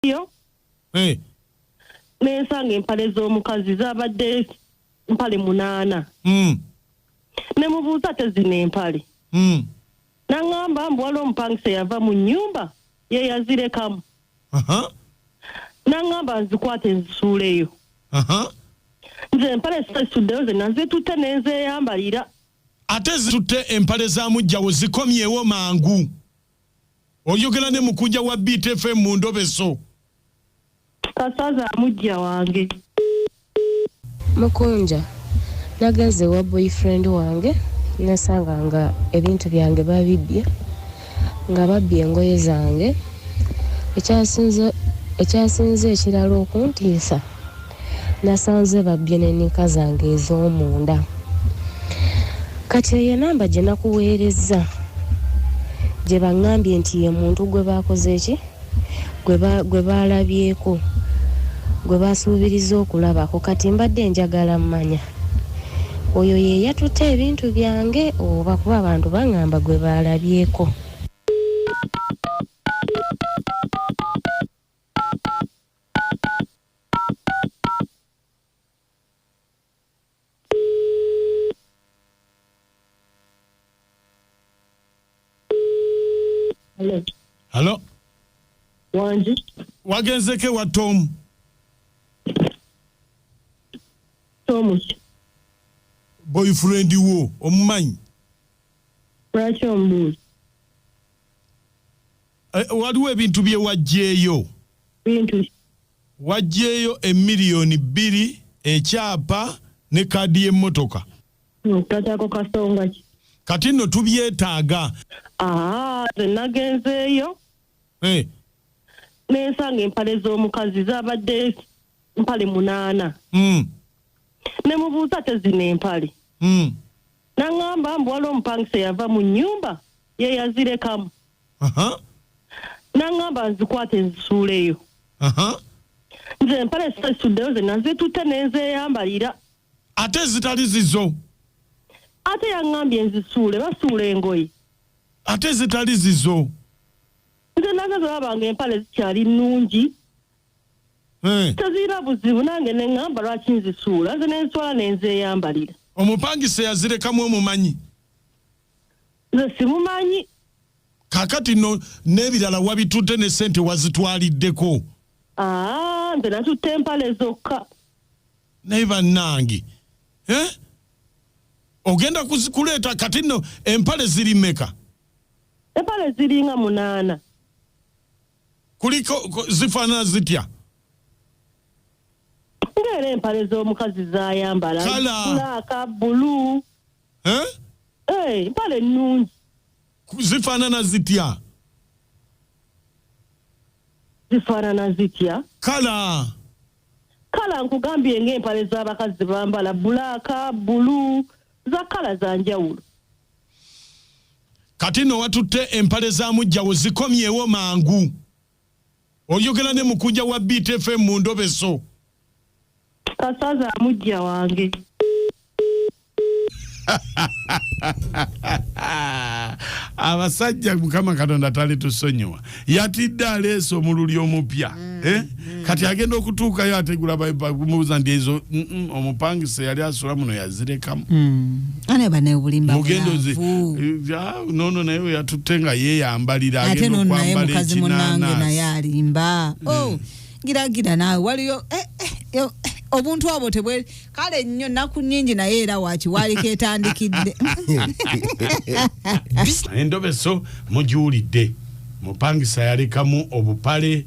studio eh. nensanga empale z'omukazi zabadde mpale munaana mm. nemubuuza tezina empale mm. nangamba mbu waliwo omupangisa yava mu nyumba yeyazirekamu uh -huh. nangamba nzikwata ezisuuleyo uh -huh. nze empale sesuddeyo zena zitutte nenzeyambalira ate zitutte empale za mujjawo zikomyewo mangu oyogera ne mukunja wa btfm mu ndobe zo kasaza amujja wange mukunja nagenze wa boyfriend wange nasanga nga ebintu byange babibbye nga babbye engoye zange ekyasinze ekirala okuntiisa nasanze babbye ne nika zange ez'omunda kati eyo enamba gye nakuweerezza gye baŋŋambye nti ye muntu gwe baakoze ki gwe baalabyeko gwe baasuubiriza okulabako kati mbadde njagala mmanya oyo ye yatutte ebintu byange oba kuba abantu baŋŋamba gwe baalabyeko Hello. Hello. Wanji. Wagenzeke wa Tom. Tom. Boyfriend wo omumanyi. Lwaki ombuuza? Eh, waliwo ebintu bye wajjeeyo bintu wajjeeyo emiliyoni bbiri ekyapa ne kaadi y'emmotoka ntakyako kasonga ki kati nno tubyetaaga aa nze nagenzeeyo Eh, nensanga empale z'omukazi zabadde mpale munaana mm, ne mubuuza tezina empale mm. naŋŋamba mbu waliwo omupangisa eyava mu nnyumba ye yazirekamu Aha, n'aŋŋamba nzikwate nzisuuleyo aha. nze empale sesuddeyo ze nazitutte ne nzeeyambalira ate ezitali zizo ate yaŋŋambye nzisuule basuula engoye ate ezitali zizo nze naze zolaba nga empale zikyali nnungi Eh, tezirina buzibu nange ne ŋŋamba lwaki nzisuula nze ne nswala ne nzeeyambalira omupangisa yazirekamu omumanyi nze simumanyi kakati no n'ebirala wabitutte ne sente wazitwaliddeko aa nze natutte empale zokka naye bannange eh? ogenda kuzi- kuleeta kati no empale ziri meka empale ziringa munaana kuliko ku- zifaanana zitya ngaera empale z'omukazi zayambala Kala. bulaaka bulu eh? Hey, eh, mpale nnungi zifaanana zitya zifaanana zitya kala kala nkugambye ng'empale z'abakazi bambala bulaaka bulu za kala za njawulo kati no watutte empale za mujjawo zikomyewo mangu Oyogera ne mukunja wa Beat FM mu ndobeso. Kasaza amujja wange. abasajja mukama katonda tali tusonyiwa yatidde aleesa omululi omupya mm, eh? mm. kati agenda okutuukayo ategula mubuuza nti ezo mm, mm, omupangisa yali asula muno zirekamu mm. mugendozi nono naye weyatutte nga yeyambalira ate nono naye mukazi munange naye alimba mm. oh, giragira naawe waliyo eh, eh, eh, obuntu obwo tebwe kale nnyo naku nyingi naye era waki waliko etandikidde endobeso mugiwulidde mupangisa yalekamu obupale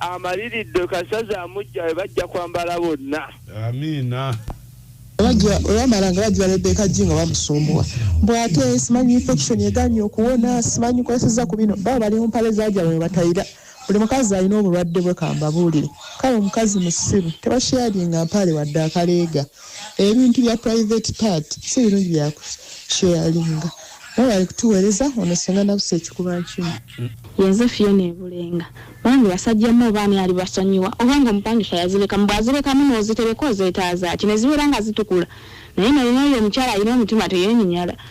amaliridde kasaza amujja we bajja kwambala bonna amiina olwamala nga bajja rebeka ji nga bamusumbuwa mbu ate simanyi infection eganye okuwona simanyi kweseza ku bino baba bali mumpale zajabwe webatayira buli mukazi alina obulwadde bwe kambabuulire kale omukazi musiru tebasharinga mpaale wadde akaleega ebintu bya private part si birungi bya kusheyalinga mwebale kutuweereza ono senga nabusa ekikuba nkimu yenze fiyona ebulenga bange basajjamu oba ani ali basonyiwa oba nga omupangisha yazirekamu bwazirekamu nozitereka ozeetaazaaki ne zibeera nga zitukula naye nolina oyo omukyala alina omutima teyenyinyala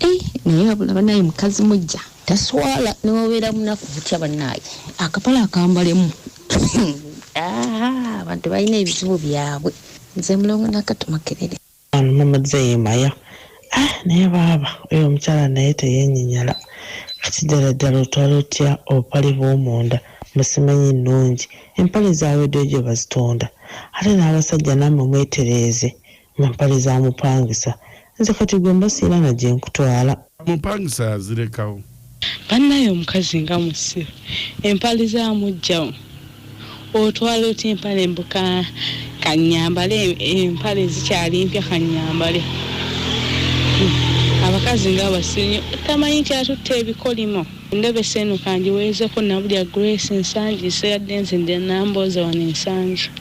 Eh, naye abula banaye mukazi mujja taswala newabeera munaku butya banaye akapala akambalemu Ah, abantu balina ebizibu byabwe nze mulongo nakati makerere Ano mama zeyemaya ah naye baaba oyo omukyala naye teyenyinyala kati ddala ddala otwala otya obupale bw'omunda mu simanyi nnungi empale zaaweddeyo gye bazitunda ate n'abasajja nammwe mwetereeze Na mpale za mupangisa. Nze kati gwe mba sirina na gye nkutwala. Mupangisa yazirekawo. Banaye omukazi nga musiru empale za mujja wo otwala otya empale mbu ka kanyambale empale zikyali mpya kanyambale abakazi nga basiru nyo tamanyi nti atutte ebikolimo endobesa eno kangiwezeko nabulya grace nsangi so yadde nze ndi nambooza wano ensangi.